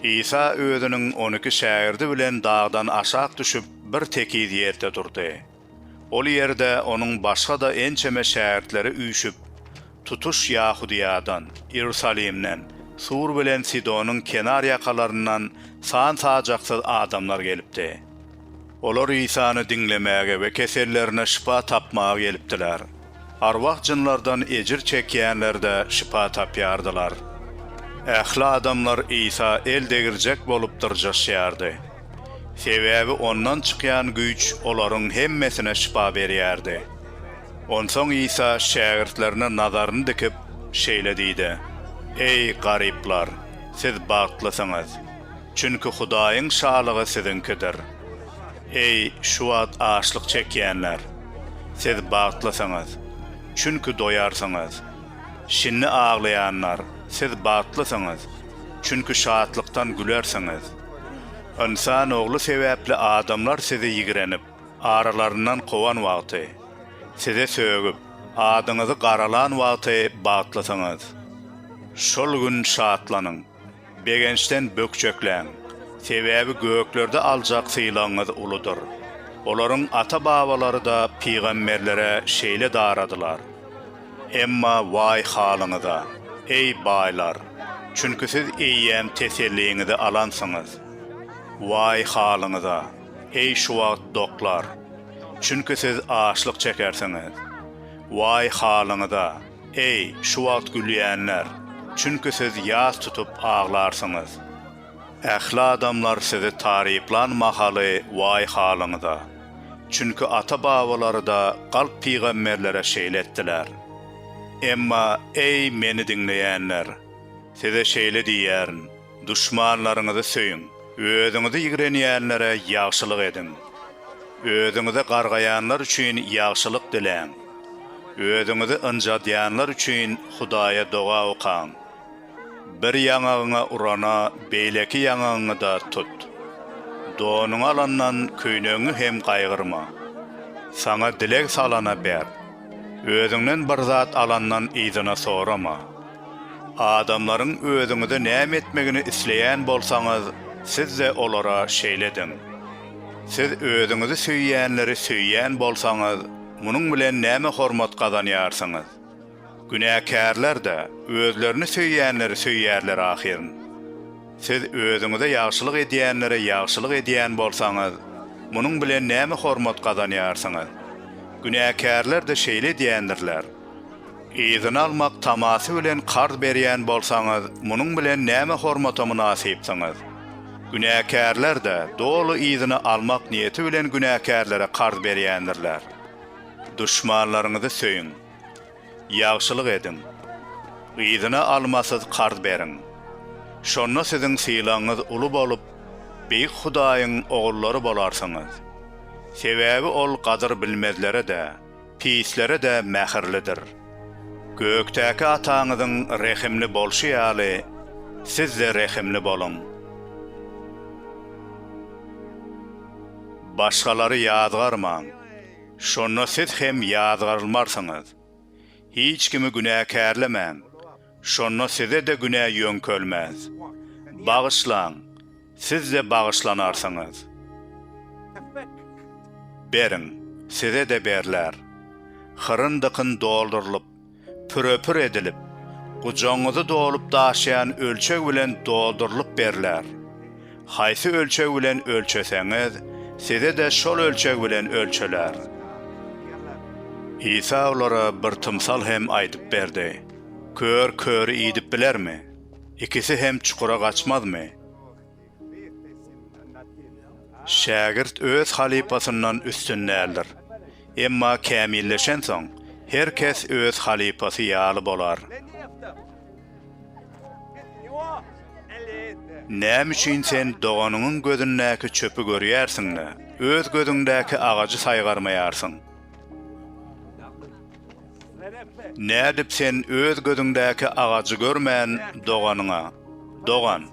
Isa özüniň on iki şägirdi bilen dagdan aşak düşüp, bir tekiz ýerde durdy. Ol ýerde onuň başga-da ençeme şägirtleri üýşüp, tutuş Ýahudyýadan, Iýerusalimden, Tur bilen Sidonyň kenar ýakalaryndan san-sajaksyz adamlar gelipdi. Olar Isany diňlemäge we kesellerine şypa tapmaga gelipdiler. Arwah-jynlardan ejir çekýänler-de şypa tapýardylar. Ähli adamlar Isa el degirjek bolup dyrjaşýardy. Sebäbi Ondan çykýan güýç olaryň hemmesine şypa berýärdi. Onsoň Isa şägirtlerine nazaryny dikip, şeýle diýdi, Eý, garyplar, siz bagtlysyňyz! Çünki Hudaýyň Şalygy siziňkidir. Eý, şu wagt açlyk çekýänler! Siz bagtlysyňyz, çünki doýarsyňyz. Şindi aglaýanlar, siz bagtlysyňyz, çünki şatlykdan gülersiňiz. Ynsan Ogly sebäpli adamlar sizi ýigrenip, aralaryndan kowan wagty, size sögüp, adyňyzy garalan wagty bagtlysyňyz. Şol gün şatlanyň. Begençden bökjekläň, sebäbi göklerde aljak sylagyňyz uludyr. Olaryň ata-babalary-da pygamberlere şeýle daradylar. Emma waý halyňyza, eý, baýlar! Çünki siz eýýäm teselliňizi alansyňyz. Waý halyňyza, eý, şu wagt doklar! Çünki siz açlyk çekersiňiz. Waý halyňyza! Eý, şu wagt gülýänler! Çünki siz ýas tutup aglarsyňyz. Ähli adamlar sizi taryplan mahaly waý halyňyza! Çünki ata-babalary-da galp pygamberlere şeýle etdiler. Emma, eý, meni diňleýänler! Size şeýle diýýärin, Duşmanlaryňyzy söýüň. Özüňizi ýigrenýänlere ýagşylyk ediň. Özüňizi gargaýanlar üçin ýagşylyk diläň. Özüňizi ynjadýanlar üçin Hudaýa doga okaň. Bir ýaňagyňa urana, beýleki ýaňagyňy-da tut. Donuňy alandan köýnegiňi hem gaýgyrma. Saňa dileg salana ber. Özüňden bir zat alandan yzyna sorama. Adamlaryň özüňize näme etmegini isleýän bolsaňyz, siz-de olara şeýle ediň. Siz özüňizi söýýänleri söýýän bolsaňyz, munuň bilen näme hormat gazanýarsyňyz? Günäkärler-de özlerini söýýänleri söýýärler ahyryn. Siz özüňize ýagşylyk edýänlere ýagşylyk edýän bolsaňyz, munuň bilen näme hormat gazanýarsyňyz? Günäkärler-de şeýle edýändirler. Yzyna almak tamasy bilen karz berýän bolsaňyz, munuň bilen näme hormata mynasypsyňyz? Günäkärler-de doly yzyna almak niýeti bilen günäkärlere karz berýändirler. Duşmanlaryňyzy söýüň. Ýagşylyk ediň. Yzyna almasyz karz beriň. Şonda siziň sylagyňyz uly bolup, Beýik Hudaýyň ogullary bolarsyňyz. Sebäbi Ol gadyr bilmezlere-de, pislere-de mähirlidir. Gökdäki Ataňyzyň rehimli bolşy ýaly, siz-de rehimli boluň. Başgalary ýazgarmaň, şonda siz hem ýazgarylmarsyňyz. Hiç kimi günäkärlemäň. Şonda size-de günä ýöňkelmez. Bagyşlaň, siz-de bagyşlanarsyňyz. Beriň, size-de berler. Hyryn-dykyn doldurylyp, püre-pür edilip, gujagyňyzy dolup daşaýan ölçeg bilen doldurylyp berler. Haýsy ölçeg bilen ölçeseňiz, size-de şol ölçeg bilen ölçeler. Isa olara bir tymsal hem aýdyp berdi. Kör köri idip bilermi? Ikisi hem çukura gaçmazmy? Şägirt öz halypasyndan üstün däldir. Emma kämilleşensoň, her kes öz halypasy ýaly bolar. Näme üçin sen doganyňyň gözündäki çöpi görýärsiň-de, öz gözüňdäki agajy saýgarmaýarsyň? Nädip sen öz gözüňdäki agajy görmän, doganyňa, Dogan,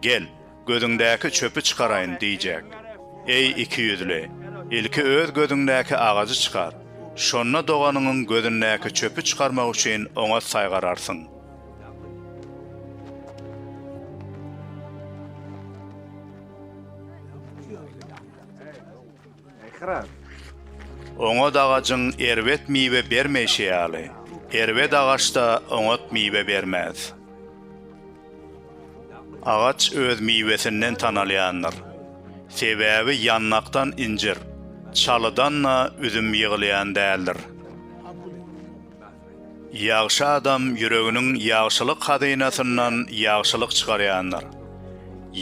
gel, gözüňdäki çöpi çykaraýyn diýjek? Eý, ikiýüzli! Ilki öz gözüňdäki agajy çykar, şonda doganyňyň gözündäki çöpi çykarmak üçin oňat saýgararsyň. Oňat agajyň erbet miwe bermeýşi ýaly, erbet agaç-da oňat miwe bermez. Agaç öz miwesinden tanalýandyr. Sebäbi ýanlakdan injir, çalydan-da üzüm ýygylýan däldir. Ýagşy adam ýüreginiň ýagşylyk hazynasyndan ýagşylyk çykarýandyr.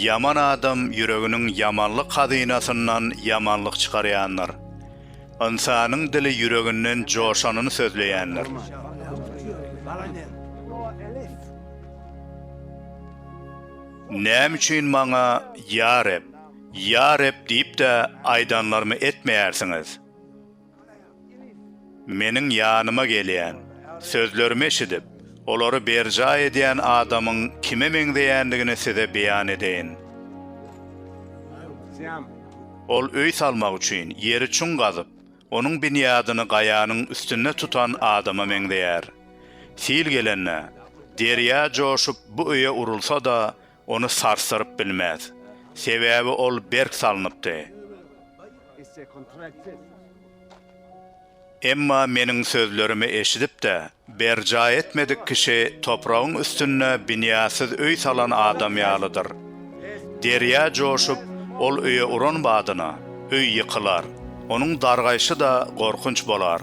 Ýaman adam ýüreginiň ýamanlyk hazynasyndan ýamanlyk çykarýandyr. Ynsanyň dili ýüreginden joşanyny sözleýändir. Näme üçin maňa, Ýa Reb, Ýa Reb diýip-de aýdanlarymy etmeýärsiňiz? Meniň ýanyma gelýän, sözlerimi eşidip, olary berjaý edýän adamyň kime meňzeýändigini size beýan edeýin. Ol öý salmak üçin ýeri çuň gazyp, onuň binýadyny gaýanyň üstünde tutan adama meňzeýär. Sil gelende, derýa joşup, bu öýe urulsa-da, ony sarsdyryp bilmez, sebäbi ol berk salnypdy. Emma Meniň sözlerimi eşidip-de, berjaý etmedik kişi topragyň üstünde binýatsyz öý salan adam ýalydyr. Derýa joşup, ol öýe uran badyna, öý ýykylar, onuň dargaýşy-da gorkunç bolar.